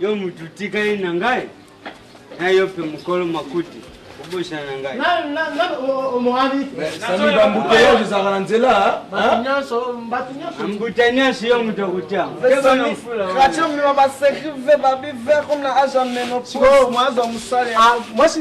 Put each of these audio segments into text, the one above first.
yo mutu tikali na ngai na yo mpe mokolo makuti obosana na ngai sami bambuteage ezalaka na nzela mbuta nyonso yo moto akotia katiomima basecri ve babi ver comme na age ya menopause mwasi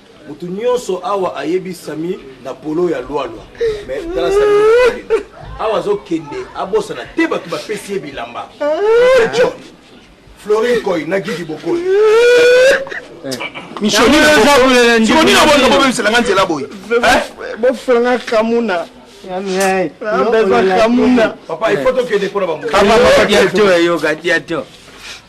Mutu nionso awa ayebi Samy na polo ya loi loi mais tala Samy awa azo kende abosana te batu bapesi ye bilamba John Florine Koy na Gigi Bokoli Michoni na bongo bobebisela nga nzela boye bofulanga kamuna papa il faut tokende mpona bamoyoka te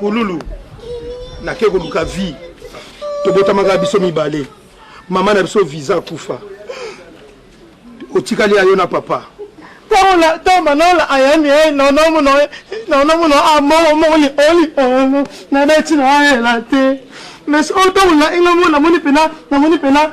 kululu nake koluka vie tobotamaka biso mibale mama na biso visa akufa otikali ayo na papa tola toma nola ayani e nonomuno nonomuno amomoli oli ono nabeti na ayela te mais oyo tola inga mo namoni pena namoni pena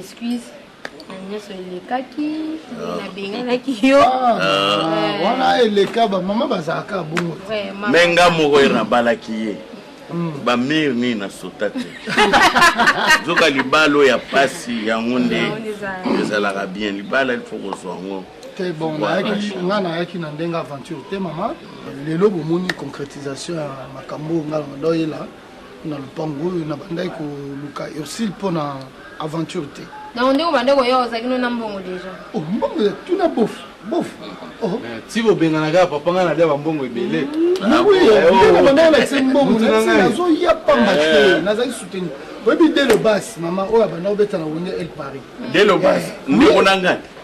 excuse na nyonso elekaki ah. nabenganaki yo ah. Ah. wana eleka bamama bazalaka bongo me nga moko ye nabalaki ye hmm. bamire nini nasota te nzoka libala oyo ya mpasi yango nde ezalaka bien libala ilfo kozwa yango te bon nga nayaki na ndenge aventure te mama lelo bomoni concrétisation ya makambo oyo nga na doyela na lupangu oyo nabandaki koluka Ursule mpo na aventure te. Donc ndeko bande koya ozalaki no na mbongo deja. Oh mbongo ya tuna bof bof. Oh. Eh, ti bobengana kaka papa ngai nalia bambongo ebele. Mm. Na oui, ah, ndeko oh. bande na se mbongo na se nazo ya pamba eh. te. Nazali soutenir. Oyebi dès le bas mama oyo abanda obeta na wenge El Paris. Dès le bas eh. ndeko na ngai.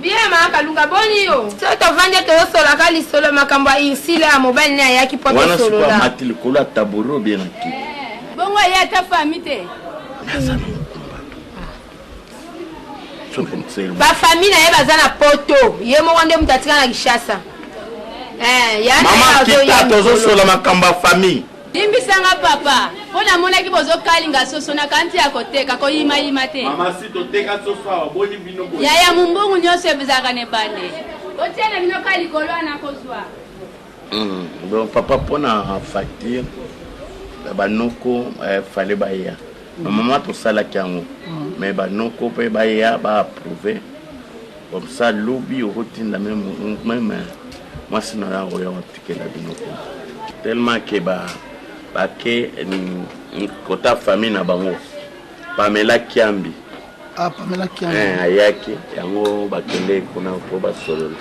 Bien ma kalunga boni yo. Soki tovandi ete tozosolaka lisolo makambo ya Ursule oyo mobali naye ayaki po tosolola. Wana sikoyo amati likolo ya tabouret ou bien na kiti? Bongo aye ata famille te? Aza na mokumba to. Ba famille naye baza na poto ye moko nde mutu atika na Kinshasa. Eh ya naye azoya. Maman kita tozosola makambo ya famille. Limbisa nga papa po namonaki bozo kalinga soso na kanti ya koteka koyima yima te. Mama si toteka soso awa boni bino boye. Yaya mumbungu nionso ebzaka ne bande. Botia na bino ka likolo wana kozwa. Hum, donc papa pona facture ya banoko eh, fale baya normalement tosalaki yango mais banoko mpe baya ba approuve Comme ça lobi okotinda meme meme mwasi na yo oya watikela bino kuna tellement ke ba bake kota famille na bango Pamela Kiambi ah, Pamela Kiambi eh, ayaki yango bakende kuna mpo basolola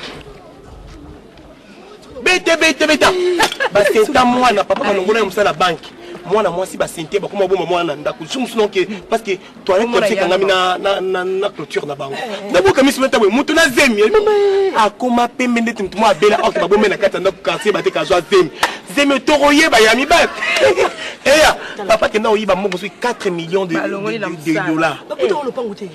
bete bete beta basenta mwana papa malongola ya mosala banki mwana mwasi basente bakoma boma mwana na ndako lisusu mosusu noke parce que toilette kabisa ekangami na clôture na bango naboka miso meta boye moto na zemi akoma pembe ndeti moto mwa abela orke babome na kati ya ndako quartier bateka azwa zemi zemi otoko yeba ya mibale eya papa kenda oyiba mbongo soki 4 millions de dollars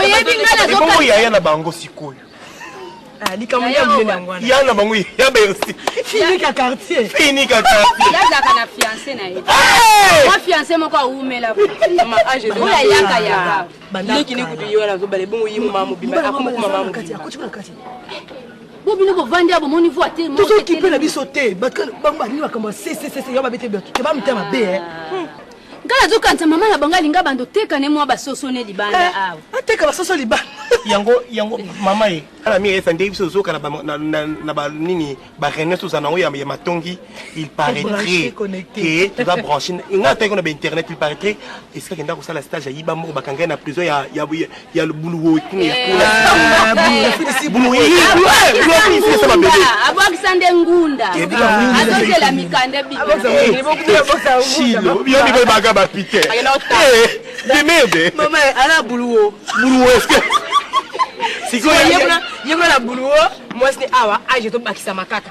oyebi nga nazoebongo yaya na bango sikoyo ah, likambo nde ya monene yango wana ya na bango ya bersi finika quartier finika quartier yazaka na fiancé na ye mwa fiancé moko awumela oyo ayaka yaka leki ne kutu yo wana azobala ebongo ye mama mobimba akomoko mama mobimba bo bino bovandi ya bomoni voi te tozokipe na biso te bango balingi makambo ya sesesese yo babete bamita mabe nga nazokanisa mama na bango alinga bando teka ne mwa basoso ne libanda eh, awa ah, ateka basoso libanda yango yango mama ye ala mingi esa nde biso tozoka na banini bareunion toza nango ya matongi il paraîtrait ke toza branche nga ataki na bainternet il paraîtrait esika kenda kosala stage ayiba moko bakangai na prison ya ya buluwe kuna ya kuna abwakisa nde ngunda azozela mikanda biyomiboyebaka bapite de merde ala buluwo buluwo eske sikoyo yebona na buluwo mwasi ne awa age tobakisama kaka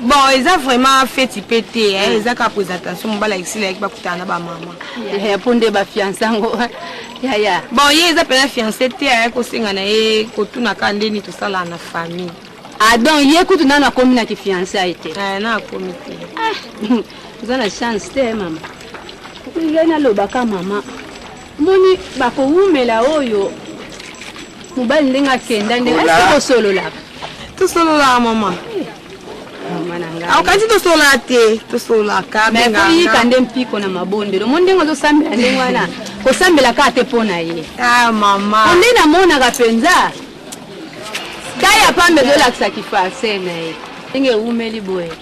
bon eza vraiment feti mpe te eh, mm. eza kaka presentation mobala ekisila yaki bakutana na bamama eh, mpo nde bafiance yango yaya bon ye eza mpenza fiance te ayaki kosenga na ye kotuna kaka ndeni tosalaka na famille ah donc ye kutu nano akomi na kifiance aye te eh, na akomi te ah, oza na chance te mama ye nalobaka mama Omoni bakowumela oyo mobali ndenge akenda ndenge Ola. esi kosololaka tosololaka mama mama na ngai aokanisi tosololaka te tosololaka me benganga. koyika nde mpiko na mabondelo omoni ndenge ozosambela ndenge wana kosambela kaka te mpo na ye ah mama po nde namonaka mpenza taya pambe ezolakisa kifarse na ye ndenge ewumeli boye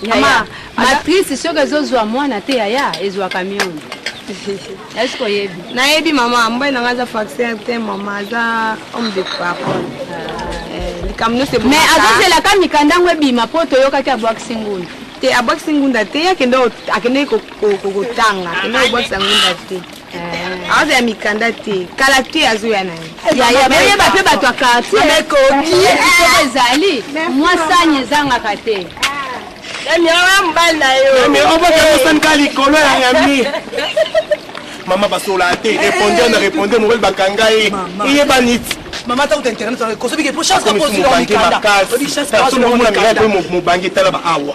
Yaya, matrice soki ezozwa mwana te yaya ezwaka miongo est-ce que oyebi nayebi mama mbai na ngai aza faxer te mama aza homme de parole eh, likambo nyonso mais azozelaka mikanda yango ebima mpo toyokaki abwakisi ngunda te abwakisi ngunda te ye akendaki kotanga akendaki kobwakisa ngunda te aza ya mikanda te kala te azoya na yebayeba mpe bato ya kartiekoki ezali mwasani ezangaka te obokamosanika likolo ya yami mama basola te repondre na repondre mobali bakanga ye eyebani ti mama ta kuta internet kosobike po chance kakosi na mikanda mobange tala ba awa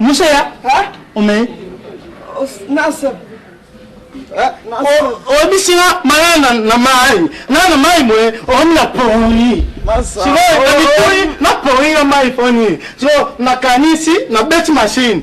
Musa ya? Ome. Nasa. oyebisi nga maya na mai nga na mai boye okomi na poni sikoyo na mitoi na poni na mai poni so nakanisi nabeti mashine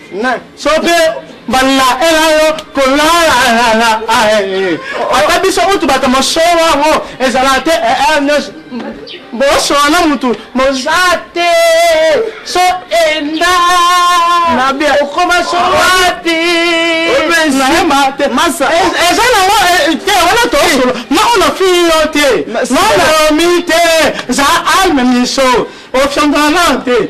soki mbala ela yo kolala ata biso mutu bato mosolo yango ezala te bosola na mutu moza te so enda okoma sowapi eza nango te wana tosolo nao na fii yo te nao naomi te za alme miso ofyondana te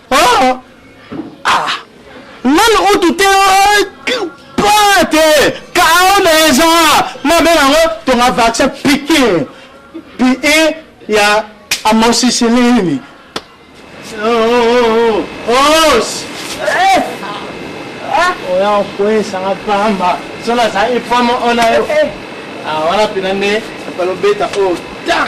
Oh! Ah! Nanu utu te pate kao na eza mabe yango tonga vaccin pike pie ya amoxicilline os oya okwesanga pamba so nazali pama ona yo wana mpena nde balobeta o ta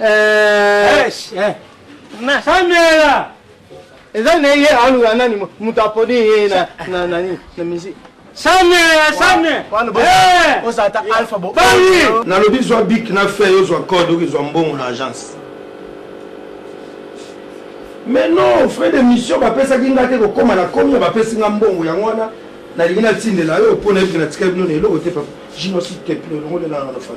Eh, Esh, eh. Na Samuela. Eza na ye aluka nani mo- moto aponi ye na na nani na musique. Samuela, Samuela. Wana bo- Eh. oza ata alpha bo. Bali. nalobi zwa bik na feuille ozwa code oki zwa mbongo na agence mais non frais de mission bapesaki nga te kokóma na komi bapesi nga mbongo yango wana nalingi natindela yo mpo nayebi natikali bino na eloko te papa jino si te pino elongo nde nanga na fai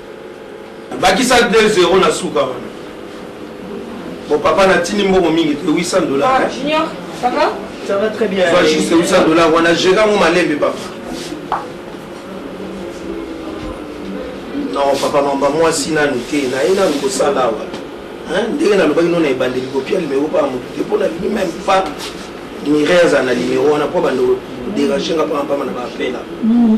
Bakisa deux zero na suka wana. Bon papa na tindi mbongo mingi te 800 dollars. Ah, Junior, ça va? Ça va très bien. Soit juste 800 dollars wana jeka ngo malembe papa. Non papa mamba mwasi nanu te na ye nanu kosala awa. Hein, ndenge nalobaki nona ebandeli kopia limero pa moto te mpo nalingi meme pas nireza na limero wana mpo bando dérange nga mpamba mpamba na baapela mm.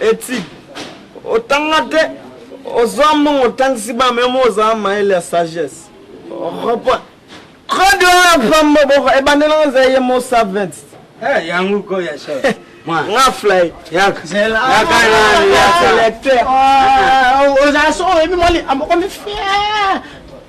Eti otanga te ozwa mbongo otangisi bana me mo ozala mayele ya sagesse repoint code wana pamba boko ebandela ngo eza ye mo savent eh, yango ko ya chef nga flay lecteur oza so oyebi mwa likambo komi fier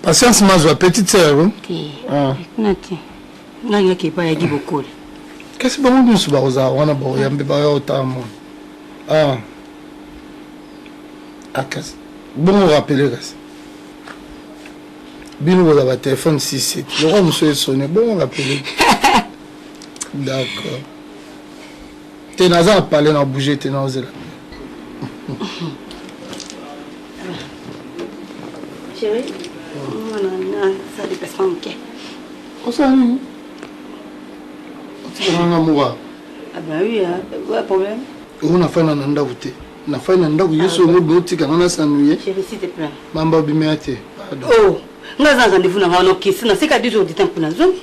Patience Mazwa, petite sœur. Hein? Te. Ah. Na te. Na ngi ke pa ya gi bokoli. Kasi bango nyonso bakoza wana ba yambe ba yo ta mon. Ah. Akas. Ah, bon rappeler kasi. Bino boza ba téléphone 6 7. Loko muso esone bon rappeler. D'accord. te naza na pale na bouge te naozela osala nini otikananga moka oyo nafanda na ndako te nafai na ndako yesu yango obe otika nga nasanuye mamba obimela te oh, nga aza rendez-vous na nga nokisi naseka 10 heures du temps mpona zongi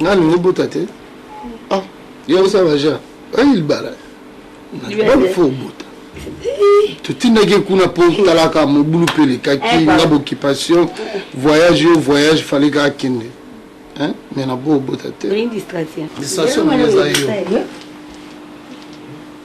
Nga lingi bota te. Ah, yo osa baja. Ayi libala. Bali fo bota. totindaki kuna mpo talaka mobulu mpe elekaki eh, nga boccupation voyage yo voyage fale kaka kende mais na bo obota te distraction eza yo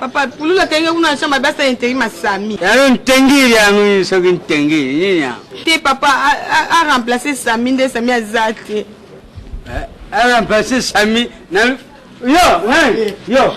papa pulula kenge kuna na chambre basa interi masami yalo ntengili yango soki ntengili nini yango te papa a remplacer sami nde sami aza te a remplacer sami na yo yo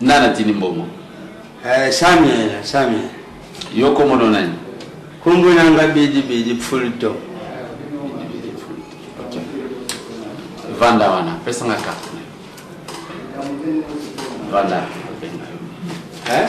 Nani atindi mbongo? Eh, Samuel, Samuel. Yo kombo no nani? Kombo na nga Bidi Bidi Pfulto. Okay. Vanda wana, pesa nga carte. Vanda. Eh?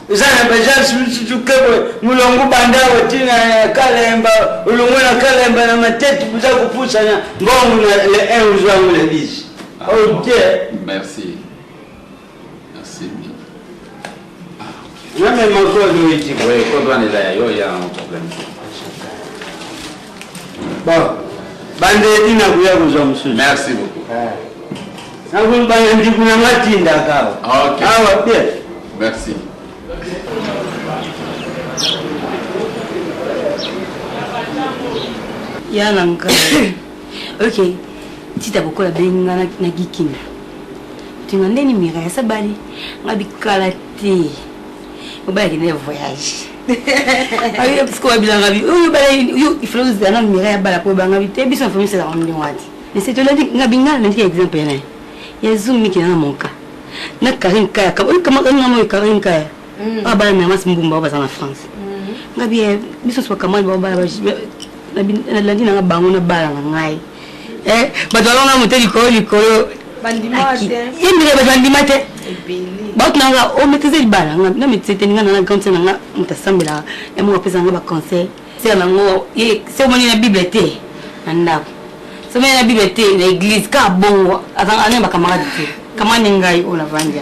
Eza na ba gens misusu ke boye mulongo banda oti na kalemba olongo na kalemba na matete boza kopusana mbongo na le 1 ozwango na 10 ok merci merci na mema kodo iti Oui, kodwa nela ya yo ya un problème. Bon, bande tina kuya kozwa mosusu. Merci beaucoup. Eh. Nakulu bande ndiku na nga tinda kawa. Ah, ok. Awa ah, bien. Merci. Ya na nga. Ok. Tita bokola bengi nga na gikinda. Tinga ndeni mira ya sabali. Nga bikala te. obalaki na voyage ayo pisiko babilanga bi oyo balai yo ifalo ozana mira ya bala po ebanga bi te biso famille sala ngombe ngwati mais c'est toladi nga bingana na ndike exemple yana ya zoom miki na mon cas na Karine Kaya kama oyo kama kama oyo Karine Kaya abala na mas mbumba oyo baza na France nga bi biso soka kamani ba bala nalandi nanga bango na bala na ngai eh, bato balonga moto likolo likolo yembele bato bandima te bato nanga o oh, maîtrise libala na maîtrise te ninga nanga grande sœur nanga moto asambelaka ya moko apesa nanga baconseil sœur nango se omoni na bible te na ndako se omoni na bible te na église kaka bongo azanga na bakamarade te kamani ngai oyo oh, na vandia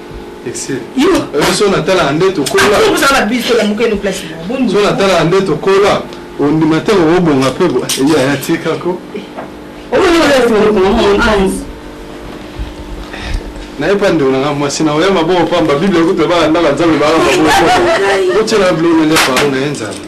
so natalaka nde tokolaozala biso lamuka eno place so natalaka nde tokola ondima te obonga mpe eyaya tikako naye mpa ndeko nanga mwasi na oya maboko pamba biblia kutu ebaka ndaka nzambe baka maboko otyela bilonele pao na ye nzambe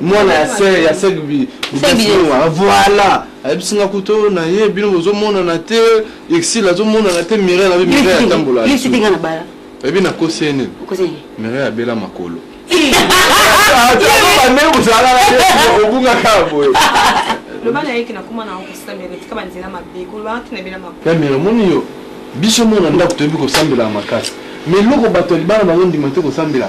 mwana ya sœur ya sœur bi bisinga voilà ayebisinga kuto na ye bino bozo mona na te exil azo mona na te mire na mire ya tambola lisi tinga na bala ebi na kosene kosene mire ya bela makolo yamire moni yo biso mona ndako toyebi kosambela makasi mais eloko bato ya libala bazondima te kosambela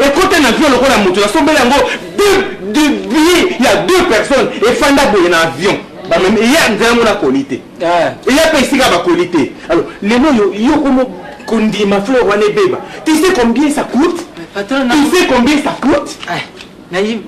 Ekota na avion lokola mutu na sombela yango deux de billets ya deux personnes efanda boye na avion bamemi eye nzela yango nakoli te eye mpe esika bakoli te alors lelo yo yo komo kondima fleur wana ebeba tu sais combien ça coûte tu sais combien ça coûte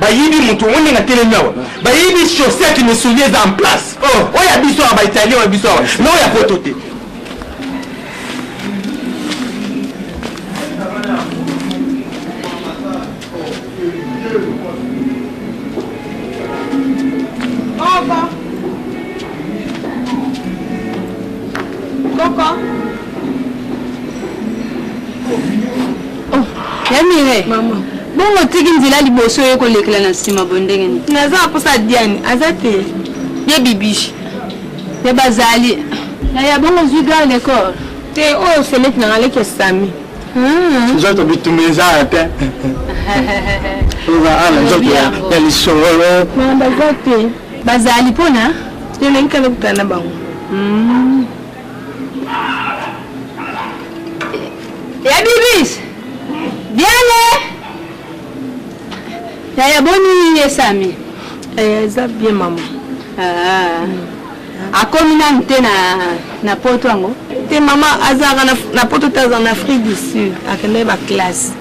bayibi mutu omoni ndenge atelemi awa bayibi chaussure ya kimisuli eza en place oh. oyo ya biso awa baitalien oyo biso awa na oyo ya poto te Coco. Oh, ya mire mama bongo tiki nzela liboso oye kolekela na nsima boye ndenge nini naza na mposa diane aza te ye bibishi ye bazali ya bongo ozwi gare de corps te oyo seleki nanga leki ya sami hmm. nzoto bitumba eza te oza ala nzoto ya lisolo baza te bazali mpona te nalingi kala kokutana na bango hmm. Ya bibis. Biale. Ya ya boni esami. Eh, eza bien mama. Ah. Akomi nanu te na na poto yango. Te mama azalaka na poto te aza na Afrique du Sud akendaki ba classe.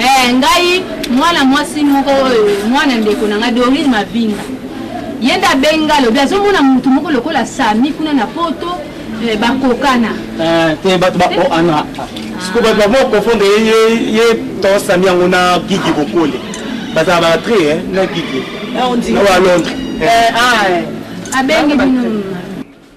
Eh, ngai mwana mwasi moko oyo eh, mwana ndeko na ngai Dorine Mavinga ye nde abenga lobi azomona motu moko lokola sami kuna na poto eh, bakokana eh, te bato bakoana siko bato bako confondre ye to sami yango na gigi kokole bazala batre eh, na gigi ah, na wa londres ah, abengi bino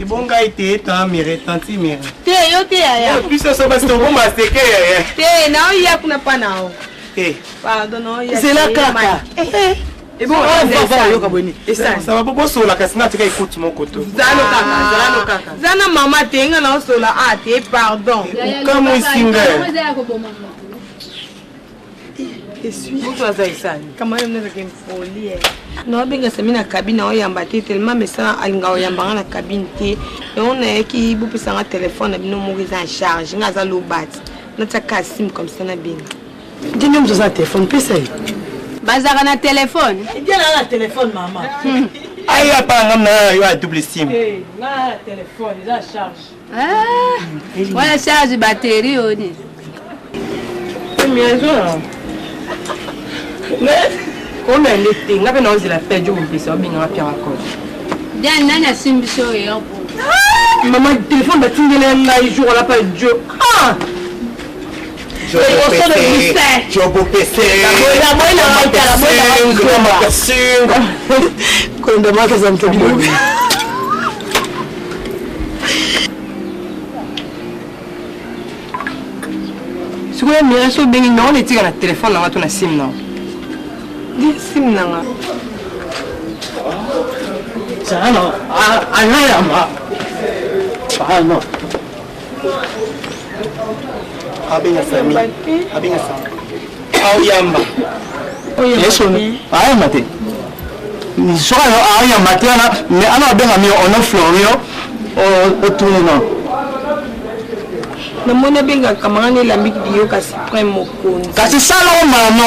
ebonga ete etamere tantimere te yo te yaya biso so basi tokoma seke yaya te naoya kuna pa nao te pardon naoya zela kaka oyoka boni esasaba po bosola kasi natika ekuti moko to zana mama te nga naosola a te pardon okamwisi nga mutu aza esani kama yo mnazaka impoli eh. na wabenga sami na kabine oyamba te telema mesa alinga oyamba nga na kabine te yango nayaki bopesa nga telefone na bino moko eza en charge nga aza lobati natiaka asime comme ça na benga nde nde moto aza na telefone pesa ye bazalaka na telefone ejalaka eh, na telefone mama hmm. aya panga mna yo a double sim eh, nga telefone eza charge Eh, wana charge batterie oni komele te nga mpe naozela pejo mopesa obengaka pianga kode diane nani asimbisi oyo yo mama telefone batindela ngai jour olapa jo ah! sikoyo mira so obengi nao na etika na telefone nanga to na sime nao sime nanga Sana, anayama. Sana. abenga sami abenga sami aoyamba ayamba te soka yo ayamba te wana mais ana abenga mio ono florio otuni no namoni abengaka mangana elambi biyoka supreme mokonzi kasi sala omano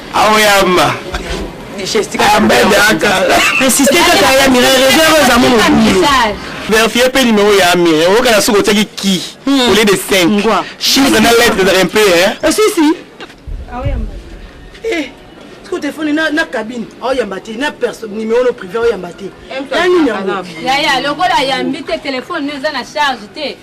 aoyamba insiste kaka ya mire reserve eza mo mobulu verifie mpe numero ya amire oyokana soki otiaki ki au lieu de 5 chiffre na lettre ezalaka mpe osisi ko telefone na, na cabine aoyamba te na numero no privé aoyamba te ya nini yango yaya lokola ayambi te telefone no eza na charge te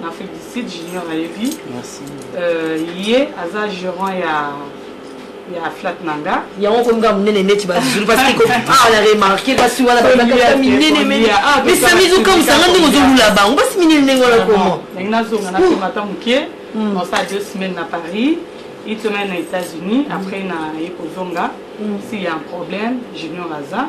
en Afrique du Sud, Junior ayebi. Merci. Euh, ye aza gérant ya ya flat nanga. Yango ko nga munene neti ba zulu parce que ko ah la remarquer ba si wala ba ka minene mais mais ça mise comme ça ngandi ko zolula bango ba si minene ndenge wala comment. Ndenge na zonga na koma ta mukie. Hmm. On ça deux semaines à Paris. Une semaine aux États-Unis, après, il y a un problème, Junior Aza.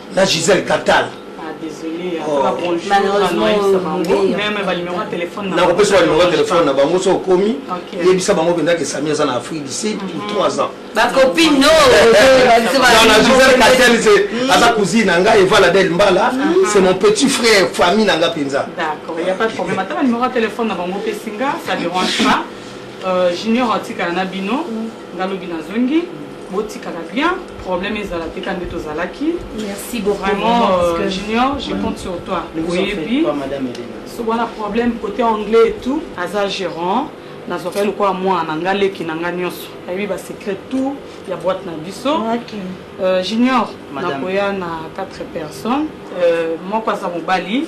na Gisèle Catal nakopesa ba numero ya telefone na bango so okomi yebisa bango mpenza ke sami aza na afrique du sud pour 3 ans aza cousine na ngai evala del mbala c'est mon petit frère famille na nga mpenza junior atikala na bino nga lobi na zongi botikala bien problème ezala te ka nde tozalaki merci beaucoup vraiment euh, junior je compte sur toi oyebi so wana problème côté anglais et tout aza gérant nazwaka ye lokola mwana na ngai leki na ngai nyonso ayebi basecret tout ya boite na biso euh, junior nakoya na 4 personnes euh, moko aza mobali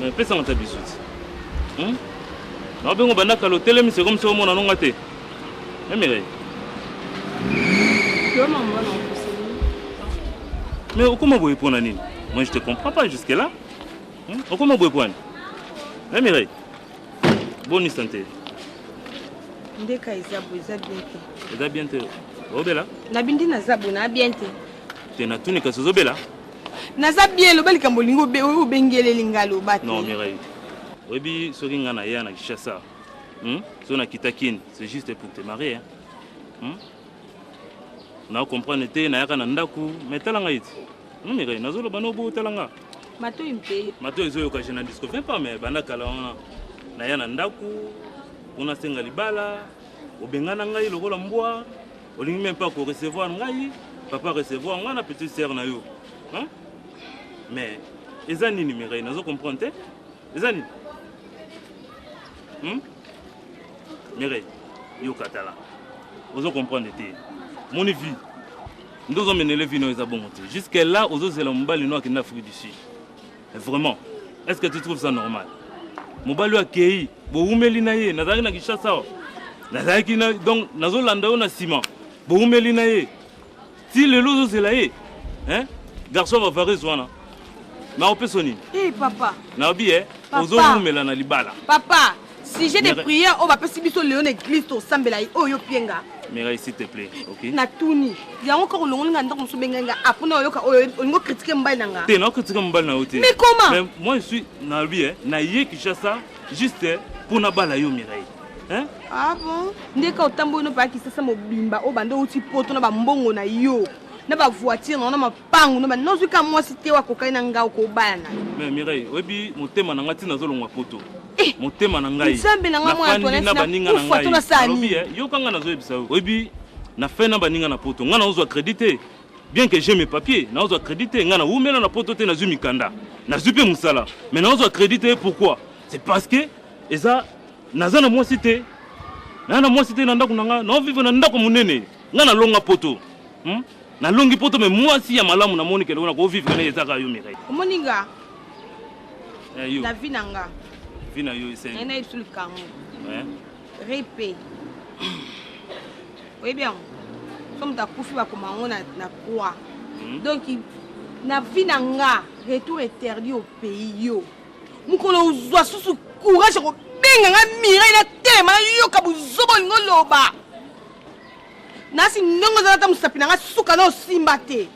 Mais pesa nga ta bisous. Hmm? Na bengo banda kalo telemi c'est comme ça omona nonga te. Eh mais Yo maman na Mais okoma boye pona nini? Moi je te comprends pas jusque là. Hmm? Okoma boye pona. Eh mais Boni sante. Ndeka eza bo eza bien te. Eza bien te. Obela? Na bindi na zabo na bien te. Te na tuni kasi ozobela? Naza bien loba likambo lingo obengeleli nga loba te. Non Mireille. Oyebi soki nga na ya na Kinshasa. Hmm? So na kita kin, c'est juste pour te marier. Hein? Hmm? Na comprendre te na yaka na ndaku, mais tala nga iti. Non Mireille, nazo loba no bo tala nga. Matoyi mpe. Matoyi ezo yoka je na disco fait pas mais banda kala wana. Na ya na ndaku, kuna senga libala, obengana ngai lokola mbwa, olingi même pas ko recevoir ngai, papa recevoir ngai na petite sœur na yo. Hein? Mais eza nini Mireille, nazo comprendre te. eza nini hmm? mere yoka tala ozo comprendre te moni vie nde ozomenele vie nayo eza bongo te jusque là ozozela mobali no akenda afrique du sud vraiment est ce que tu trouves ça normal mobali oyo akei bowumeli na ye nazalaki na kinshasa awa nazalaki donc nazolanda yo na nsima bowumeli na ye ti lelo ozozela ye hein? garçon ya bavareuse wana nakopesa nini Eh, papa nayobi e Papa. ozowumela na libala papa sujet de Mere- prière oyo bapesi biso lelo na eglise tosambela ye oyo opienga mirai s'il te plaît ok natuni yango kaka olongoli nga ndako mosusu obengai nga apona oyoka oyo olingi okritike mobali na nga te nakokritika mobali na yo te Mais comment? Mais moi je suis nalobi e naye kinshasa Juste mpo nabala yo Mireille. Hein? Ah bon? Ndeka otamboli no pa kisasa mobimba o bande uti poto na ba mbongo na yo. Na ba voiture na ma pangu na ba nozwi ka mwasi te wa kokali na ngao ko baya na. Mais Mireille, oyebi motema na ngai tina zolongwa poto. Eh, motema na ngai. Nzambe na ngai mwana Antoinette na baninga na ngai. Alobi eh, yoka ngai nazoyebisa yo. Oyebi na fin na baninga na poto. Ngai nazozwa credit te. Bien que j'ai mes papiers, nazwa credit te, nga na wumela na poto te, nazwi mikanda, nazwi pe musala, mais nazwa credit te, pourquoi? C'est parce que eza naza na mwasi te, naza na mwasi te na ndako na nga, nao vivre na ndako munene, nga na longa poto. Hmm? Na longi poto mais mwasi ya malamu na moni ke lona ko vivre na ezaka yo Mireille. Omoni nga? Eh, yo. Na vie na nga. Vie na yo esengi. Na ye na ye bisu likangu. Eh? rip oyebi yango so moto akufi bakoma yango na croix hmm. donc na vie na nga retour interdit au pays yo mokolo ozwa susu courage ya kobenga nga mirai na telema nayoka bozoba olingo loba nasi ndenge ozala ata mosapi na ngai suka na osimba te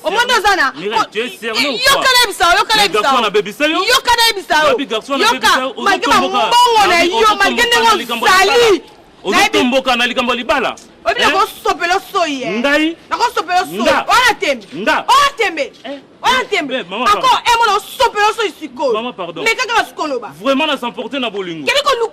omoni oza na yoka nayebisa yo yoka nayebisa yo yoka nayebisa yo yoka malgre bambongo na yo malgre ndenge ozali ozotomboka na likambo ya libala oyebi eh? nakosopela osoyi eh? ngai nakosopela osoyi oya tembe oya tembe eh? oya tembe ako emona osopela osoyi sikoyo meka kaka sikoloba vraiment na s'emporte na bolingo kebiko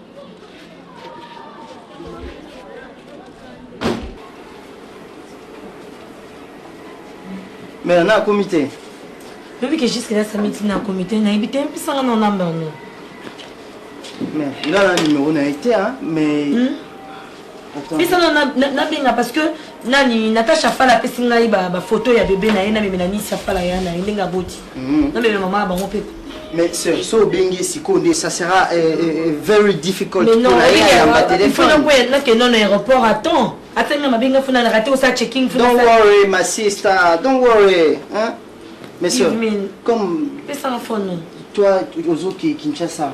mais nana akomi te oyebi ke jusque là sami ntina akomi te nayebi te mpisanga na olamba yango mais nga na nimero na ye te mais hmm? pesa nabenga parce que nani natacha fala apesi ngai bafoto ya bebe na ye namemela nisi ya fala ya na ye ndenge aboti mhm. namemela mama ya bango mpe mais sœur so obengi sikoyo nde ça sera eh, eh, eh, very difficult pona ye ayamba telefone nakenda na aéroport à temps ata nga mabenga funa na rate osa checking funa don't worry my sister don't worry hein mais sœur comme pesa phone toi ozoki Kinshasa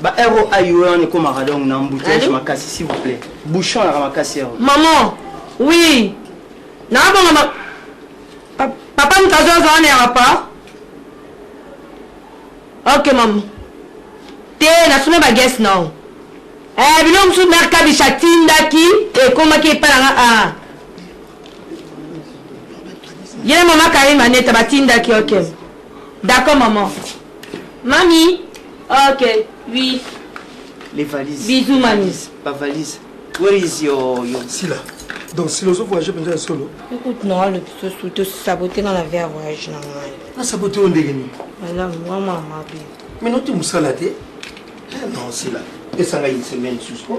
ba ro ayo wana ekomaka donc na embouteillage makasi s'il vous plaît bouchon yaka makasi ro maman oui naabonga ma... pa... papa mkazo aza wana ya papa ok maman te nasuna bagese nao eh, biloko mosusu mare kabisha atindaki ekomaki epai nanga a ah. ye na mama karine maneta batindaki ok d'accord maman Mami ok oui les valises bisous mami ba valises where is your your sila donc sila ozo voyage mpenza ya solo écoute non alobi sosu tosabote nga na vie ya voyage na ngai nasabote yo ndenge nini malamu nga mama mabe mino te mosala te non sila esanga une semaine susu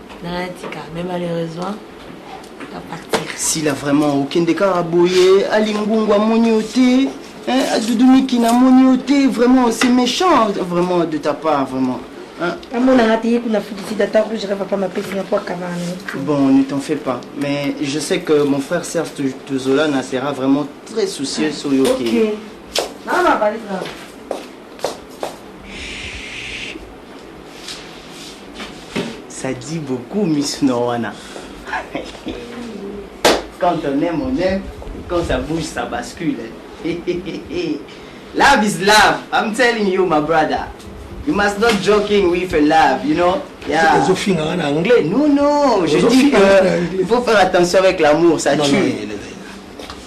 natika mais malheureusement apartir sila vraiment okende kaka boye alingungu amoni yo te adudumiki namoni yo te vraiment c'est méchant vraiment de ta part vraiment amonanga te ye kuna afutisi data rouge reva pa mapesi na poakabana bon ne t'en fais pas mais je sais que mon frère serge tuzolana sera vraiment très soucieux sur yo okay. ça dit beaucoup misu na wana quand on aime on aime quand ça bouge ça bascule love is love i'm telling you my brother you must not joking with a love you know yeah. ozofinga nga na anglais non non je dis que il faut faire attention avec l'amour ça tue